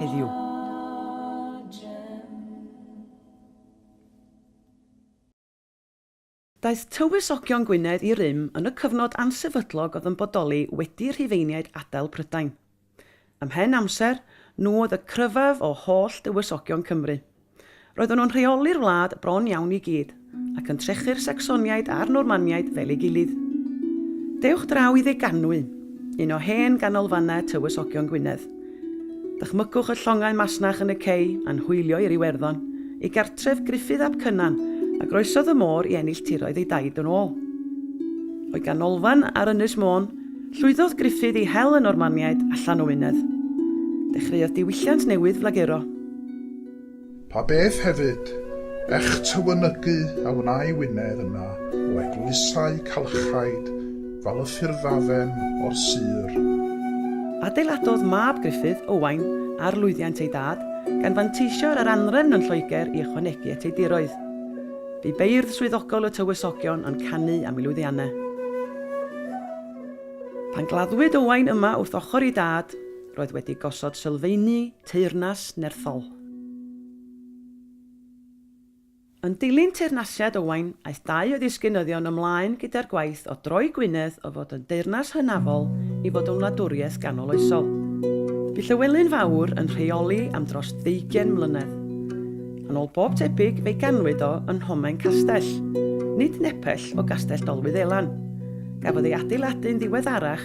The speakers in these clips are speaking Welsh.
heddiw. Daeth tywysogion Gwynedd i rym yn y cyfnod ansefydlog oedd yn bodoli wedi Rhufeiniaid adael Prydain. Ymhen amser, nhw oedd y cryfaf o holl dywysogion Cymru. Roedden nhw'n rheoli'r wlad bron iawn i gyd, ac yn trechu'r Sacsoniaid a'r Normaniaid fel ei gilydd. Dewch draw i Ddeganwy, un o hen ganolfannau Tywysogion Gwynedd. Dychmygwch y llongau masnach yn y cei a'n hwylio i'r Iwerddon, ei gartref Gruffydd ap Cynan, a groesodd y môr i ennill tiroedd ei daid yn ôl. O'i ganolfan ar Ynys Môn, llwyddodd Gruffydd i hel y Normaniaid allan o Wynedd. Dechreuodd diwylliant newydd flaguro. Pa beth hefyd, ech tywynygu a wnâi Wynedd yna o eglwysau calchaid fal y ffyrddafem o'r sir. Adeiladodd mab Gruffydd, Owain, ar lwyddiant ei dad, gan fanteisio ar yr anrefn yn Lloegr i ychwanegu at ei diroedd. Bu beirdd swyddogol y tywysogion yn canu am ei lwyddianne. Pan gladdwyd Owain yma wrth ochr ei dad, roedd wedi gosod sylfeini Teyrnas Nerthol Yn dilyn teyrnasiad Owain, aeth dau o ddisgynyddion ymlaen gyda'r gwaith o droi Gwynedd o fod yn deyrnas hynafol i fod yn wladwriaeth ganoloesol. Bu Llywelyn Fawr yn rheoli am dros ddeugain mlynedd. Yn ôl bob tebyg fe'i ganwyd o yn Nhomen Castell, nid nepell o Gastell Dolwyddelan. Gafodd ei adeiladu'n ddiweddarach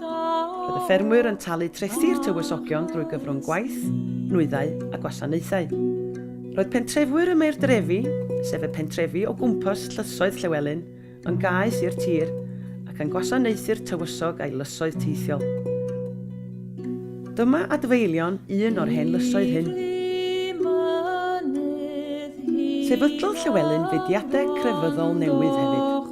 Roedd y ffermwyr yn talu trethi'r tywysogion drwy gyfrwng gwaith, nwyddau a gwasanaethau. Roedd pentrefwyr y Maeurdrefi, sef y pentrefi o gwmpas Llysoedd Llewelyn, yn gaeth i'r tir ac yn gwasanaethu'r tywysog a'i lysoedd teithiol. Dyma adfeilion un o'r hen lysoedd hyn. Sefydlodd Llewelyn fudiadau crefyddol newydd hefyd.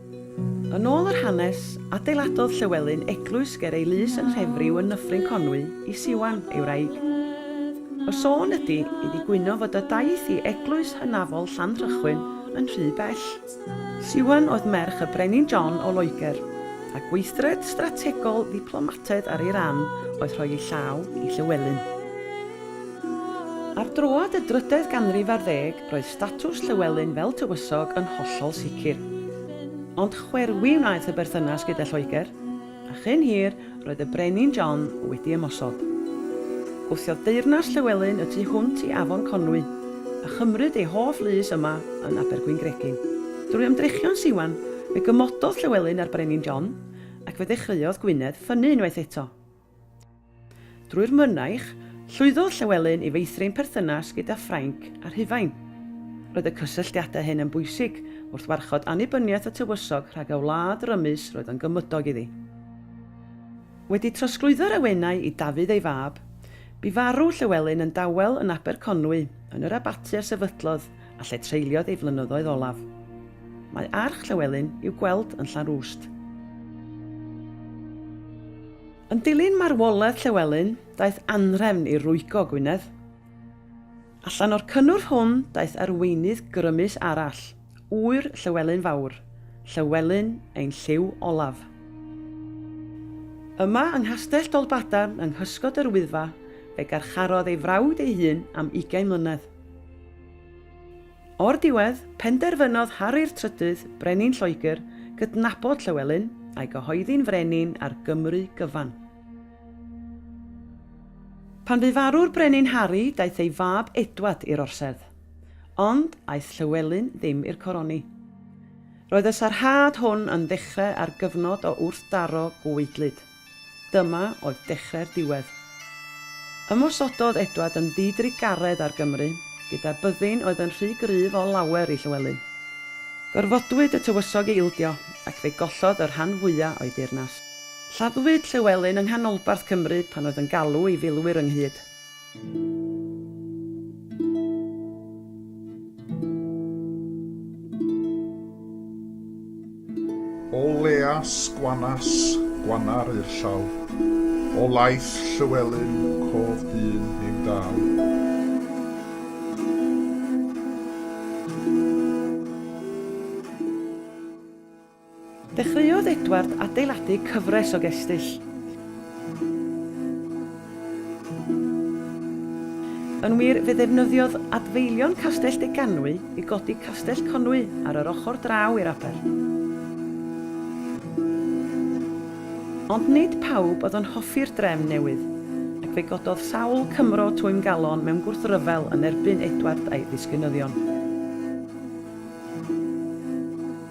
Yn ôl yr hanes, adeiladodd Llywelyn eglwys ger ei lys yn Nhrefriw yn Nyffryn Conwy i Siwan, ei wraig. Y sôn ydi iddi gwyno fod y daeth i eglwys hynafol Llanrhychwyn yn rhy bell. Siwan oedd merch y Brenin John o Loegr, a gweithred strategol ddiplomataidd ar ei ran oedd rhoi ei llaw i Llywelyn. Ar droad y drydedd ganrif ar ddeg, Roedd statws Llywelyn fel tywysog yn hollol sicr. Ond chwerwi wnaeth y berthynas gyda Lloegr, a chyn hir roedd y Brenin John wedi ymosod. Gwthiodd deyrnas Llywelyn y tu hwnt i Afon Conwy, a chymryd ei hoff lys yma yn Abergwyngregyn. Drwy ymdrechion Siwan, fe gymododd Llywelyn â'r Brenin John, ac fe ddechreuodd Gwynedd ffynnu unwaith eto. Drwy'r mynaich, llwyddodd Llewelyn i feithrin perthynas gyda Ffrainc a Rhufain. Roedd y cysylltiadau hyn yn bwysig wrth warchod annibyniaeth y tywysog rhag y wlad rymus roedd yn gymydog iddi. Wedi trosglwyddo'r awenau i Dafydd ei fab, bu farw Llewelyn yn dawel yn Aberconwy yn yr abaty a sefydlodd a lle treuliodd ei flynyddoedd olaf. Mae arch Llywelyn i'w gweld yn Llanrwst. Yn dilyn marwolaeth Llywelyn, daeth anhrefn i rwygo Gwynedd. Allan o'r cynnwrf hwn daeth arweinydd grymus arall, ŵyr Llywelyn Fawr, Llywelyn ein Llyw Olaf. Yma yng Nghastell Dolbadarn yng nghysgod yr Wyddfa fe garcharodd ei frawd ei hun am ugain mlynedd. O'r diwedd, penderfynodd Harri'r Trydydd, Brenin Lloegr, gydnabod Llywelyn, a'i gyhoeddi'n frenin ar Gymru gyfan. Pan fu farw'r Brenin Harri, daeth ei fab Edward i'r orsedd. Ond, aeth Llywelyn ddim i'r coroni. Roedd y sarhad hwn yn ddechrau ar gyfnod o wrthdaro gweidlyd. Dyma oedd dechrau'r diwedd. Ymosododd Edward yn ddi-drugaredd ar Gymru, gyda byddin oedd yn rhy gryf o lawer i Llywelyn. Gorfodwyd y tywysog i ildio, ac fe gollodd y rhan fwya o'i deyrnas. Lladdwyd Llywelyn yng nghanolbarth Cymru pan oedd yn galw ei filwyr ynghyd. O leas gwanas gwanar i'r llaw, o laeth Llywelyn cof dyn ein dâl. Dechreuodd Edward adeiladu cyfres o gestyll. Yn wir, fe ddefnyddiodd adfeilion Castell Deganwy i godi Castell Conwy ar yr ochr draw i'r aber. Ond nid pawb oedd yn hoffi'r drefn newydd, ac fe gododd sawl Cymro twymgalon mewn gwrthryfel yn erbyn Edward a'i ddisgynyddion.